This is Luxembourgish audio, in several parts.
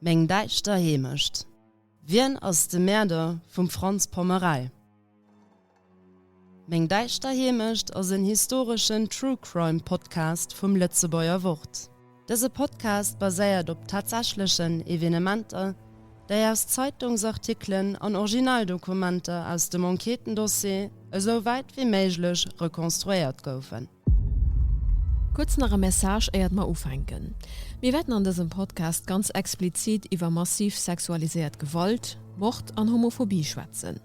Meng däischter Heemecht. Wien ass de Mäerder vum Franz Pommerell? Meng däischter Heemecht ass en historeschen True Crime Podcast vum Lëtzebuerger Wort. Dëse Podcast baséiert op tatsächlechen Evenementer, déi aus Zeitungsartikelen an Originaldokumenter aus dem Enquêtendossier esou wäit wéi méiglech rekonstruéiert goufen. Kuerz nach e Message éiert mer ufänken. Mir wäerten an dësem Podcast ganz explizit iwwer massiv sexualiséiert Gewalt, Mord an Homophobie schwätzen.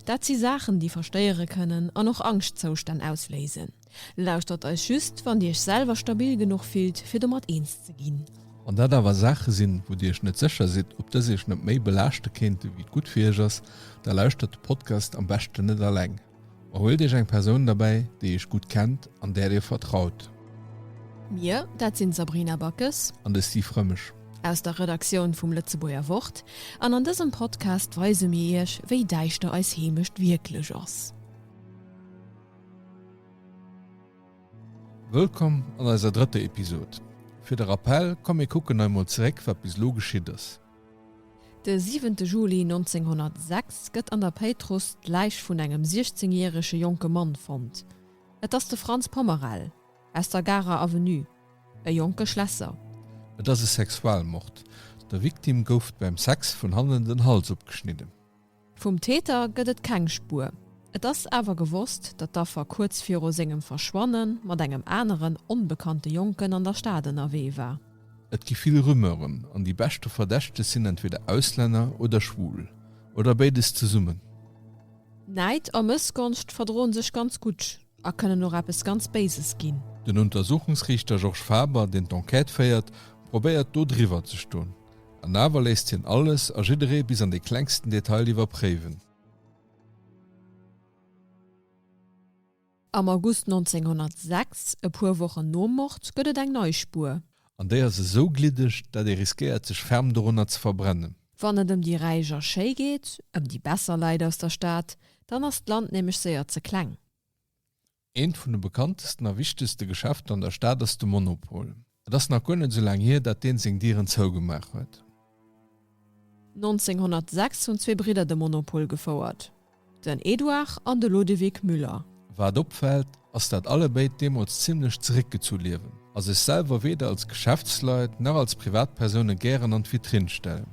Dat si Saachen, déi verstéiere kënnen an och Angschtzoustänn ausléisen. Lauschtert eis just, wann Dir Iech selwer stabil genuch fillt, fir domat eens ze ginn. Wann dat awer Saache sinn, wou Dir Iech net sécher sidd, ob dës Iech net méi belaaschte kéinten, wéi et gutt fir Iech ass, da lauschtert de Podcast am beschten net alleng, ma huelt Iech eng Persoun derbäi, déi Iech gutt kennt an där Dir vertraut. Mir, dat sinn d'Sabrina Backes. An de Steve Rëmesch. Aus der Redaktioun vum Lëtzebuerger Wort. An an dësem Podcast weise mir Iech, wéi däischter eis Heemecht wierklech ass. Wëllkomm an eiser drëtter Episod. Fir de Rappell, komm mir kucken nei mol zeréck wat bis elo geschitt ass. De siwente Juli 1906 gëtt an der Péitruss d'Läich vun engem 16 järege jonke Mann fonnt. Et ass de Franz Pommerel aus der Garer Avenue, e jonke Schlässer. Et ass e Sexualmord, der Victime gouf beim Sex vun hannen den Hals opgeschnidden. Vum Täter gëtt et keng Spuer. Et ass awer gewosst, datt d'Affer kuerz viru sengem Verschwanne mat engem aneren, onbekannte Jonken an der Stad ënnerwee war. Et gi vill Rumeuren an déi beschte Verdächteg sinn entweder Auslänner oder schwul. Oder béides zesummen. Näid a Mëssgonscht verdroen sech ganz gutt a kënnen och eppes ganz Béises ginn. Den Untersuchungsriichter Georges Faber, deen d'Enquête féiert, probéiert do driwwer ze stoen. An awer léisst hien alles a jidderee bis an dee klengsten Detail iwwerpréiwen. Am August 1906, e puer Wochen nom Mord, gëtt et eng nei Spuer. An déi ass esou gliddeg, dat ee riskéiert sech ferm dorunner ze verbrennen. Wann et ëm déi Räich a Schéi geet, ëm déi besser Leit aus der Stad, dann ass d'Land nämlech séier ze kleng. Eent vun de bekanntesten a wichtegste Geschäfter an der Stad ass de Monopol. Et ass nach guer net esou laang hier, dat deen seng Dieren zougemaach huet. 1906 hunn zwee Bridder de Monopol gefouert, den Edouard an de Lodewig Müller. Wat opfält, ass dat allebéid deemools zimmlech zeréckgezu liewen a sech selwer weder als Geschäftsleit nach als Privatpersoune gären an d'Vitrinn stellen.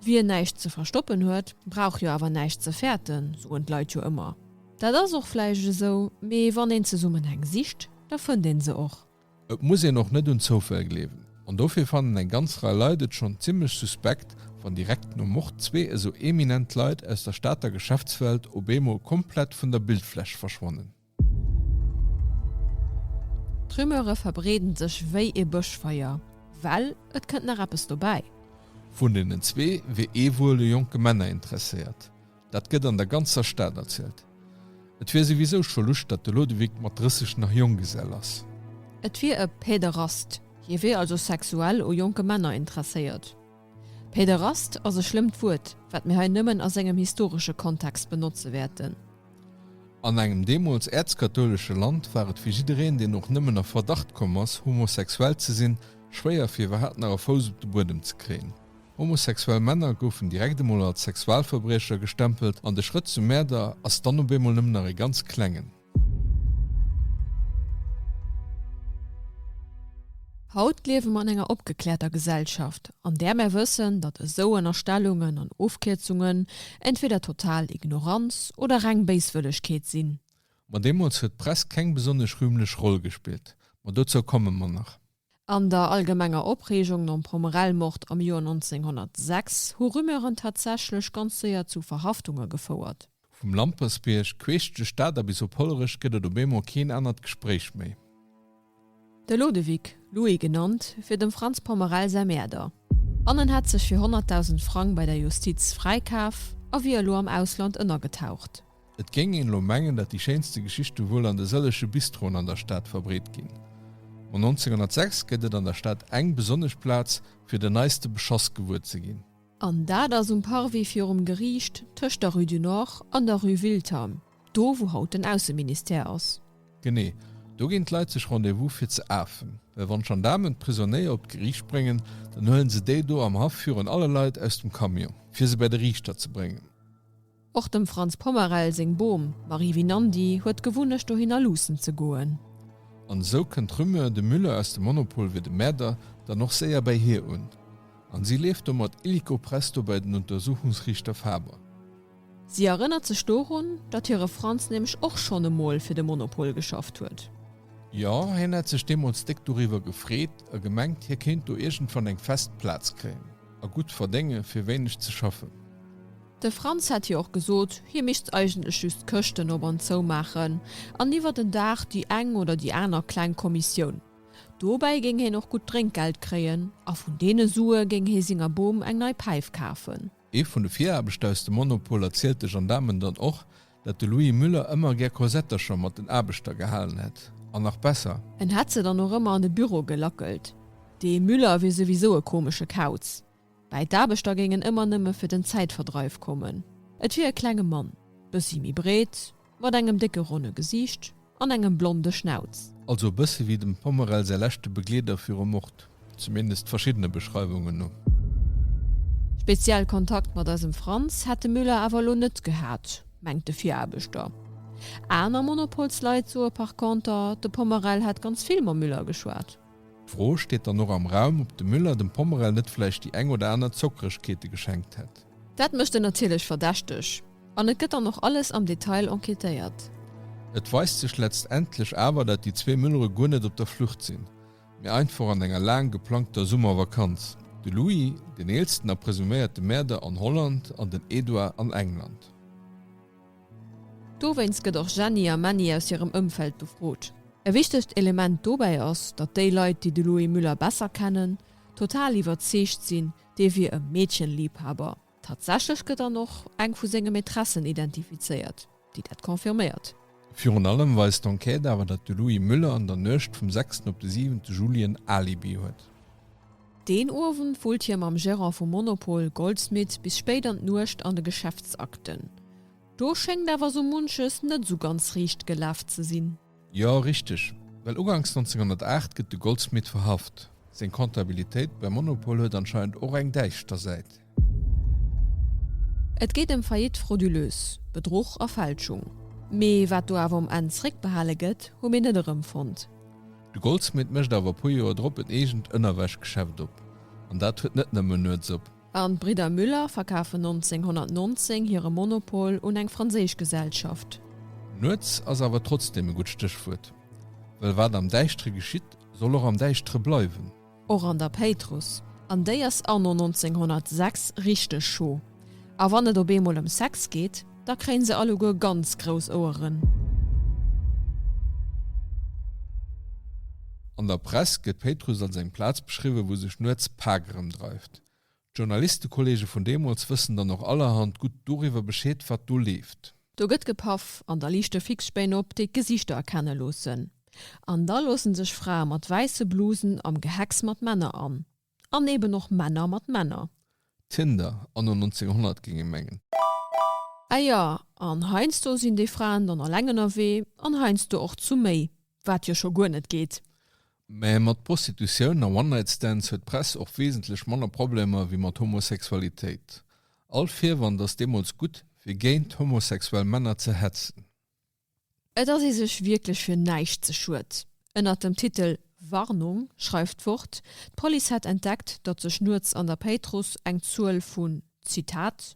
Wien näischt ze verstoppen huet, brauch jo awer näischt ze fäerten, soen d'Leit jo ëmmer. Dat ass och vläicht esou, mee wann een Zesummenhäng sicht, da fënnt een se och. Et muss een och net un Zoufäll gleewen, an dofir fannen eng ganz Rei Leit et schonn zimmlech suspekt, wann direkt nom Mord zwee esou eminent Leit aus der Stater Geschäftswelt op eemol komplett vun der Bildfläch verschwannen. D'Rumeure verbreeden sech wéi ee Bëschfeier, well et kënnt nach eppes dobäi. Vun deenen zwee wier ee wuel u jonke Männer interesséiert, dat gëtt an der ganzer Stad erzielt. Et wier souwisou scho luscht, datt de Lodewyk mat 30 nach Jonggesell ass. Et wier e Päderast, hie wier also sexuell u jonke Männer interesséiert. Päderast ass e schlëmmt Wuert, wat mir hei nëmmen a sengem historesche Kontext benotze wäerten. An engem deemools äerzkathoulesche Land war et fir jiddereen, deen och nëmmen a Verdacht komm ass, homosexuell ze sinn, schwéier, fir iwwerhaapt nach e Fouss op de Buedem ze kréien. Homosexuell Männer goufen direkt emol als Sexualverbriecher gestempelt an de Schrëtt zum Mäerder ass dann op eemol nëmmen nach e ganz klengen. Haut liewe mer an enger opgekläerter Gesellschaft, an där mer wëssen, datt esou Ënnerstellungen an Ofkierzungen entweder total Ignoranz oder reng Béiswëllegkeet sinn. Ma deemools huet d'Press keng besonnesch rühmlech Roll gespillt. Ma dozou komme mer nach. An der allgemenger Opreegung nom Pomerelmord am Joer 1906 hu Rumeuren tatsächlech ganz séier zu Verhaftunge gefouert. Vum Lampersbierg, queesch duerch d'Ader bis op Hollerech gëtt et op eemol keen anert Gespréich méi. De Lodewyk, Louis genannt, fir dem Frans Pommerell säi Mäerder. An en hätt sech fir 100.000 Frang bei der Justiz fräikaf a wier elo am Ausland ënnergetaucht. Et géing een elo mengen, dat déi schéinste Geschichte wuel an de sëlleche Bistroen an der Stad verbreet ginn. Ma 1906 gëtt et an der Stad eng besonnesch Plaz, fir den neiste Beschoss gewuer ze ginn. An dat ass um Parvis virum Geriicht tëscht der Rue du Nord an der Rue Wiltern, do wou haut den Ausseministère ass. Genee do ginn d'Leit sech Rendez-vous fir ze afen, well wann d'Gendaarmen d'Prisonnéier op d'Geriicht bréngen, dann huelen se déi do am Haff virun alle Leit aus dem Camion, fir se bäi de Riichter ze bréngen. Och dem Franz Pommerel seng Bom, Marie Vinandi, huet d'Gewunnecht dohinner luussen ze goen. An esou kënnt d'Rumeur, de Müller aus dem Monopol wier de Mäerder, dann och séier bäi hir un. An si leeft domat illico presto bei den Untersuchungsriichter Faber. Si erënnert sech dorun, datt hire Franz nämlech och schonn emol fir de Monopol geschafft huet. Jo, hien hätt sech deemools déck doriwwer gefreet a gemengt, hie kéint do iergendwann eng fest Plaz kréien a gutt verdénge fir wéineg ze schaffen. De Franz hätt jo och gesot, hie misst eigentlech just d'Këschten op an zou maachen an iwwer den Dag déi eng oder déi aner kleng Kommissioun. Dobäi géing hien och gutt Drénkgeld kréien a vun deene Sue géing hie senger Bom eng nei Päif kafen. Ee vun de Viraarbechter aus dem Monopol erzielt de Gendaarmen dann och, dat de Louis Müller ëmmer gär Corsettercher mat den Aarbechter gehalen hätt an nach besser, En hätt se dann och ëmmer an de Büro gelackelt. Dee Müller wier souwisou e komesche Kauz. Mä d'Aarbechter géingen ëmmer nëmme fir den Zäitverdreif kommen. Et wier e klenge Mann, bëssi méi breet, mat engem décke ronne Gesiicht an engem blonde Schnauz. Also e bësse wéi dem Pommerell säi leschte Begleeder viru Mord, zumindest verschiddene Beschreiwungen no. Speziell Kontakt mat eisem Franz hätt de Müller awer elo net gehat, mengt de Viraarbechter. Aner Monopolsleit soe par conter, de Pommerell hätt ganz vill mam Müller geschwat. D'Fro steet dann och am Raum, ob de Müller dem Pommerell net vläicht déi eng oder aner Zockeregkeete geschenkt hätt. Dat mécht en natierlech verdächteg an et gëtt dann och alles am Detail enquêtéiert. Et weist sech letztendlech awer, dat déi zwee Müllere guer net op der Flucht sinn, mee einfach an enger laang geplangter Summervakanz, de Louis, den eelsten a presuméierte Mäerder, an Holland an den Edouard an England. Dowéinst gëtt och Jenny a Männi aus hirem Ëmfeld befrot. E wichtegt Element dobäi ass, datt déi Leit, déi de Louis Müller besser kennen, total iwwerzeegt sinn, dee wier e Meedchenliebhaber. Tatsächlech gëtt dann och eng vu senge Maîtressen identifizéiert, déi dat confirméiert. Virun allem weist d'Enquête awer, datt de Louis Müller an der Nuecht vum sechsten op de siwente Juli en Alibi huet. Deen Owend wullt hie mam Gerant vum Monopol Goldsmith bis spéit an d'Nuecht an de Geschäftsakten. Do schéngt awer sou munches net sou ganz riicht gelaf ze sinn. Jo, richteg, well uganks 1908 gëtt de Goldsmith verhaft. Seng Comptabilitéit beim Monopol huet anscheinend och eng däischter Säit. Et geet ëm Faillite frauduleuse, Bedruch a Fälschung. Mee wat do awer um Enn zréckbehale gëtt, hu mir net erëmfonnt. De Goldsmith mécht awer e puer Joer drop en eegent Ënnerwäschgeschäft op. An dat huet net nëmmen nuets op. An d'Bridder Müller verkafen 1919 hire Monopol un eng franséisch Gesellschaft. Nuets ass awer trotzdeem e gutt Stéchwuert. Well wat am Däischtere geschitt, soll och am Däischtere bleiwen. Och an der Péitruss, an déi ass anno 1906 richteg scho, a wann et op eemol ëm Sex geet, da kréien se alleguer ganz grouss Oueren. An der Press gëtt d'Péitruss als eng Plaz beschriwwen, wou sech nuets d'Pak erëmdreift. D'Journalistekolleege vun deemools wëssen dann och allerhand gutt doriwwer Bescheed, wat do leeft. Do gëtt gepaff an da liichte Fixspéin op, déi d'Gesichter erkenne loossen. An da loosse sech Frae mat wäisse Blusen am Gehecks mat Männer an. An eben och Männer mat Männer. Tinder anno 1900, géing ee mengen. Ah jo, an heiansdo sinn déi Fraen dann eleng ënnerwee an heiansdo och zu méi, wat jo scho guer net geet. Mä mat Prostitutioun a One-Night-Stands huet d'Press och wesentlech manner Problemer wéi mat Homosexualitéit. All Virwand ass deemools gutt, fir géint homosexuell Männer ze hetzen. Et ass ee sech wierklech fir näischt ze schued. Ënnert dem Titel Warnung schreift d'Wort, d'Police hätt entdeckt, datt sech nuets an der Péitruss eng Zuel vun, Zitat,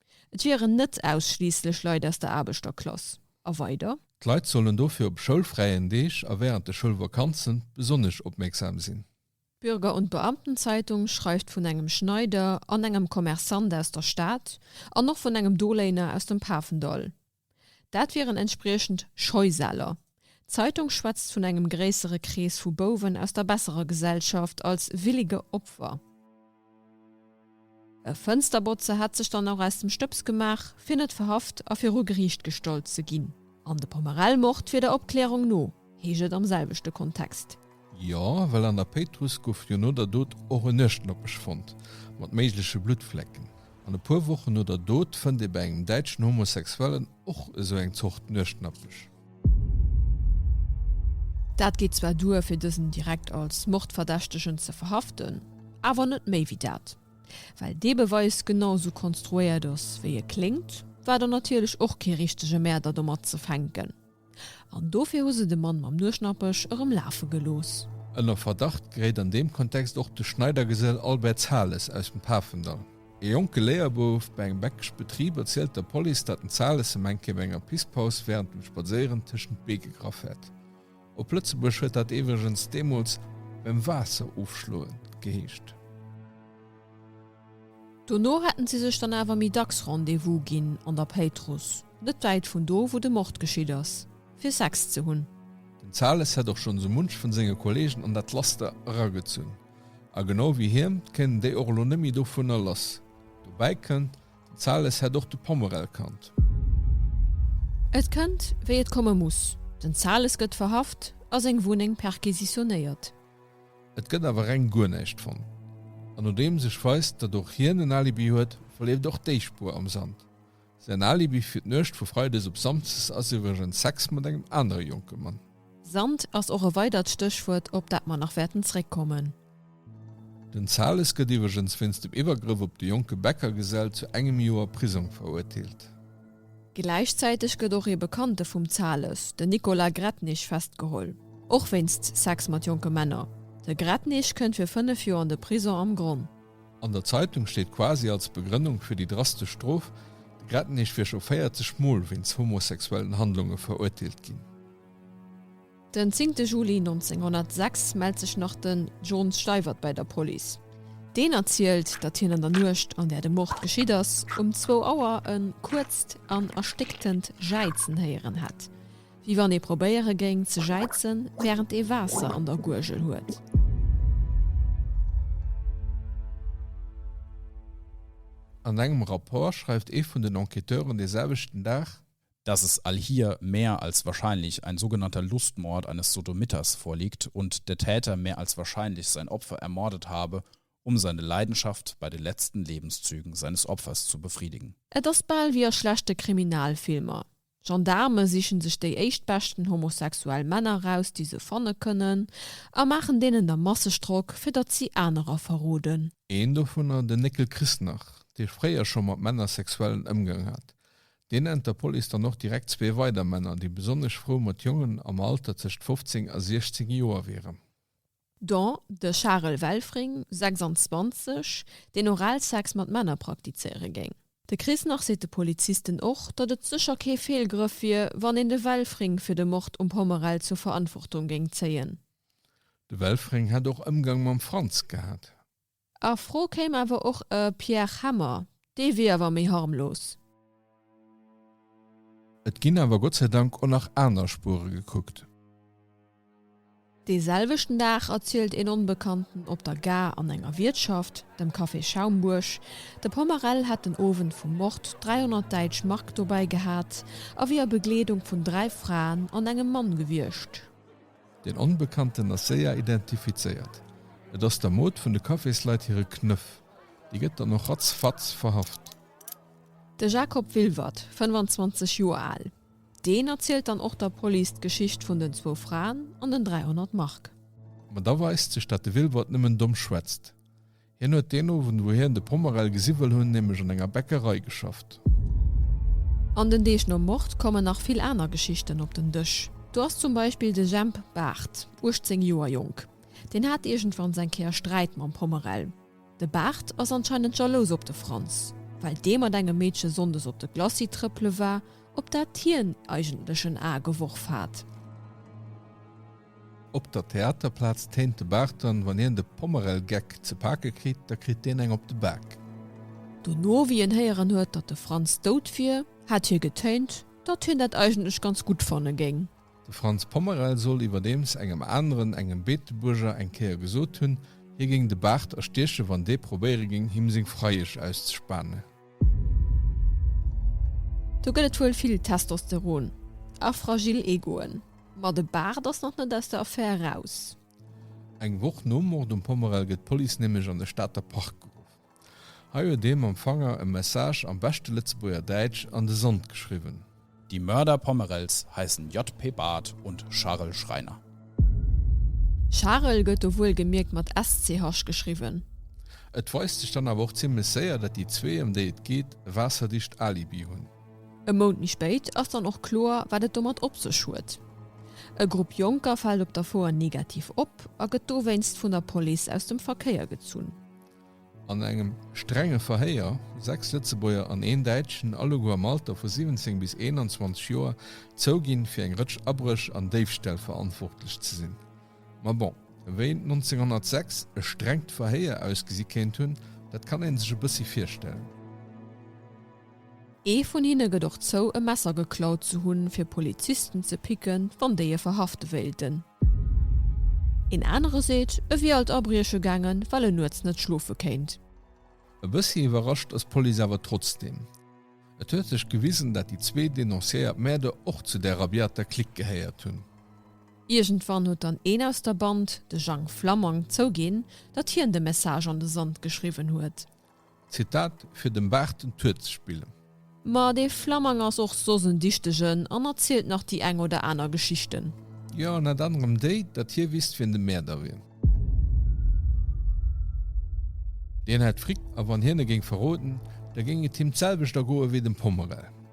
Et wieren net ausschliisslech Leit aus der Aarbechterklass. A weider. D'Leit sollen dofir op schoulfräien Deeg a wärend de Schoulvakanze besonnesch opmierksam sinn. D'Bürger und Beamtenzeitung schreift vun engem Schneider an engem Kommersant aus der Stad an och vun engem Doléiner aus dem Pafendall, Dat wieren entspriechend Scheusäler. D'Zeitung schwätzt vun engem gréissere Krees vu Bouwen aus der besserer Gesellschaft als willige Opfer. E Fënsterbotzer hätt sech dann och aus dem Stëbs gemaach, fir net verhaft a viru Geriicht gestallt ze ginn. An de Pomerell-Mord wier der Opklärung no, heescht et am selwechte Kontext. Jo, well an der Péitruss gouf jo no der Dot och en Nuechtnopesch fonnt, mat méigleche Bluttflecken. An e puer Wochen no der Dot fënnt ee bei engem däitschen Homosexuellen och esou eng Zort Nuechtnapesch. Dat geet zwar duer, fir dësen direkt als Mordverdächtegen ze verhaften, awer net méi wéi dat. Well dee Beweis genau esou konstruéiert ass, wéi e kléngt, war dann natierlech och kee richtege Mäerder domat ze fänken. An dofir hu se de Mann mam Nueschnappech erëm lafe gelooss. Ënner Verdacht geréit an deem Kontext och de Schneidergesell Albert Zahles aus dem Pafendall. E jonke Léierbouf bei engem Beckesch Betrib erzielt der Police, datt den Zahles him eng Kéier bei enger Pisspaus wärend dem Spadséieren tëschent d'Bee gegraff hätt. Op Lëtzebuerg huet dat iwwregens deemools beim Waasser ofschloen geheescht. Dono hätten si sech dann awer méi dacks Rendez-vous ginn an der Péitruss, net wäit vun do wou de Mord geschitt ass, fir Sex ze hunn. Den Zales hätt och schonn sou munch vun senge Kollegen an dat Laster eragezunn, a genau wéi hien, kéinten déi och elo net méi dovunner lass. Dobäi kënnt, den Zales hätt och de Pommerel kannt. Et kënnt wéi et komme muss, den Zales gëtt verhaft a seng Wunneng perquisitionéiert. Et gëtt awer reng guer näischt fonnt. An nodeems ech weist, datt och hien en Alibi huet, verleeft och déi Spuer am Sand. Säin Alibi fir d'Nuecht vu Freides op Samsdes ass iwwregens Sex mat engem anere jonke Mann. Sand ass och e weidert Stéchwuert, op dat mer nach wäerten zréckkommen. Den Zahles gëtt iwwregens wéinst dem Iwwergrëff op de jonke Bäckergesell zu engem Joer Prisong verurteelt. Gläichzäiteg gëtt och ee Bekannte vum Zales, den Nicolas Gretnich, festgeholl, och wéinst Sex mat jonke Männer. De Gretnich kënnt fir fënnef Joer an de Prison am Gronn. An der Zeitung steet quasi als Begrënnung fir déi drastesch Strof, de Gretnich wier scho 40 Mol wéinst homosexuellen Handlunge verurteelt ginn. Den zéngte Juli 1906 mellt sech nach den John Steiwert bäi der Police. Deen erzielt, datt hien an der Nuecht, an där de Mord geschitt ass, um zwou Auer e kuerzt an erstécktent Jäizen héieren hätt, wéi wann ee probéiere géing ze jäizen, wärend ee Waasser an der Guergel huet. An engem Rapport schreift ee vun den Enquêteuren, dee selwechten Dag, dass es all hier mehr als wahrscheinlich ein sogenannter Lustmord eines Sodomiters vorliegt und der Täter mehr als wahrscheinlich sein Opfer ermordet habe, um seine Leidenschaft bei den letzten Lebenszügen seines Opfers zu befriedigen. Et ass bal wéi a schlechte Kriminalfilmer, Gendarme sichen sech déi éischtbeschten homosexuell Männer raus, déi se fanne kënnen, a maachen deenen da masseg Drock, fir datt si anerer verroden. Een dovunner, den Néckel Christnach, dee fréier scho mat Männer sexuellen Ëmgang hat, Deen nennt der Police dann och direkt zwee weider Männer, déi besonnesch frou mat Jongen am Alter tëscht 15 a 16 Joer wieren. Dont de Charel Welfring, 26, deen Oralsex mat Männer praktizéiere géing. De Chris Nach seet de Polizisten och, datt et sécher kee Feelgrëff wier, wann een de Welfring fir de Mord um Pommerell zur Verantwortung géing zéien. De Welfring hätt och Ëmgang mam Franz gehat. A Fro kéim awer och e Pierre Hemmer, dee wier awer méi harmlos. Et ginn awer Gott sei Dank och nach aner Spuere gekuckt. Dee selwechten Dag erzielt een Onbekannten op der Gare an enger Wiertschaft, dem Café Schaumbuerg, de Pommerell hätt den Owend vum Mord 300 däitsch Mark dobäi gehat a wier a Begleedung vun dräi Fraen an engem Mann gewiescht. Deen Onbekannten ass séier identifizéiert, et ass der Mod vun de Cafésleit hire Knëff. Déi gëtt dann och ratzfatz verhaft. De Jacob Wilwert, 25 Joer al, deen erzielt dann och der Police d'Geschicht vun den zwou Fraen an den 300 Mark. Ma da weist sech, dat de Wilwert nëmmen domm schwätzt. Hien huet deen Owend, wou hien de Pomerel gesi wëll hunn, nämlech an enger Bäckerei geschafft. An den Deeg nom Mord kommen nach vill aner Geschichten op den Dësch. Do ass zum Beispill de Jhemp Baart, 18 Joer jonk. Deen hat iergendwanns eng Kéier Sträit mam Pomerel. De Baart ass anscheinend jalous op de Franz, well dee mat engem Meedche sonndes op de Glacis trëppele war, op dat hien eigentlech en A geworf hat. Op der Theaterplaz téint de Barton, Wann hien de Pommerel-Geck ze pake kritt, da kritt deen eng op de Bak. Dono, wéi hien héieren huet, datt de Franz dout wier, hätt hie getéint, datt hien dat eigentlech ganz gutt fanne géing. De Franz Pommerel soll iwwerdeems engem aneren, engem Beetebuerger, eng Kéier gesot hunn, hie géing de Bart erstieche, wann dee probéiere géing, him seng Freiesch auszespanen. Do gëtt et wuel vill Testosteron a fragil Egoen, ma de Baart ass nach net aus der Affär eraus. Eng Woch nom Mord um Pommerl gëtt d'Police nämlech an de Stater Park geruff. Hei huet ee mam Fanger e Message am beschte Lëtzebuerger Däitsch an de Sand geschriwwen. Die Mörder Pommerels heißen JP. Barth und Charel Schreiner. Charel gëtt do wuelgemierkt mat SCH geschriwwen. Et weist sech dann awer och zimmlech séier, dat déi zwee, ëm déi et geet, e waasserdicht Alibi hunn. E Mount méi spéit ass dann och kloer, wat et domat op sech huet. E Grupp Jonker fält op der Foer negativ op a gëtt dowéinst vun der Police aus dem Verkéier gezunn. An engem strenge Verhéier hu sechs Lëtzebuerger an een Däitschen, alleguer am Alter vu 17 bis 21 Joer, zouginn, fir eng Rëtsch Abréch an Déifställ verantwortlech ze sinn. Ma bon, wéi 1906 e strengt Verhéier ausgesi kéint hunn, dat kann ee sech e bëssi virstellen. Ee vun hinne gëtt och zou, e Messer geklaut ze hunn, fir Polizisten ze picken, wann déi e verhafte wéilten. Een anere seet, e wier alt abrieche gaangen, well en nuets net schlofe kéint. E bëssi iwwerrascht ass d'Police awer trotzdeem. Et huet sech gewisen, dat déi zwee denonciéiert Mäerder och zu där rabiater Clique gehéiert hunn. Iergendwann huet dann een aus der Band, de Jang Flammang, zouginn, datt hien de Message an de Sand geschriwwen huet. Zitat, Fir dem Baach den Tuer ze spillen. Ma dee Flammang ass och soss en Dichtegen an erzielt nach déi eng oder aner Geschichten. Jo, ënnert anerem déi, datt hie wisst, wien de Mäerder wier. Deen hätt Frick a wann hien e géing verroden, da géing et him d'selwecht ergoe wéi dem Pommerell.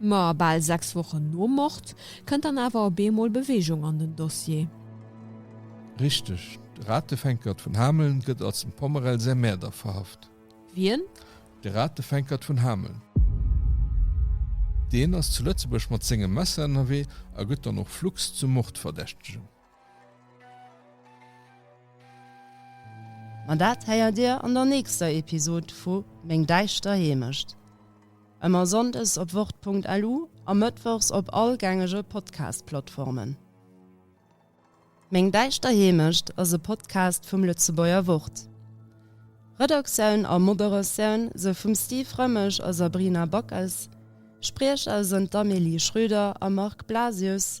Ma bal sechs Wochen nom Mord kënnt dann awer op eemol Beweegung an den Dossier. Richteg, de Ratefänkert vun Hameln gëtt als dem Pommerell säi Mäerder verhaft. Wien? De Ratefänkert vun Hameln. Deen ass zu Lëtzebuerg mat sengem Messer ënnerwee a gëtt dann och flugs zum Mordverdächtegen. Ma dat héiert Dir an der nächster Episod vu Meng däischter Heemecht. Ëmmer sonndes op wort.lu a mëttwochs op all gängege Podcast-Plattformen. Meng däischter Heemecht ass e Podcast vum Lëtzebuerger Wort. Redaktioun a Moderatioun sou vum Steve Rëmmesch a Sabrina Backes, Spriecher sënn d'Amélie Schröder a Marc Blasius.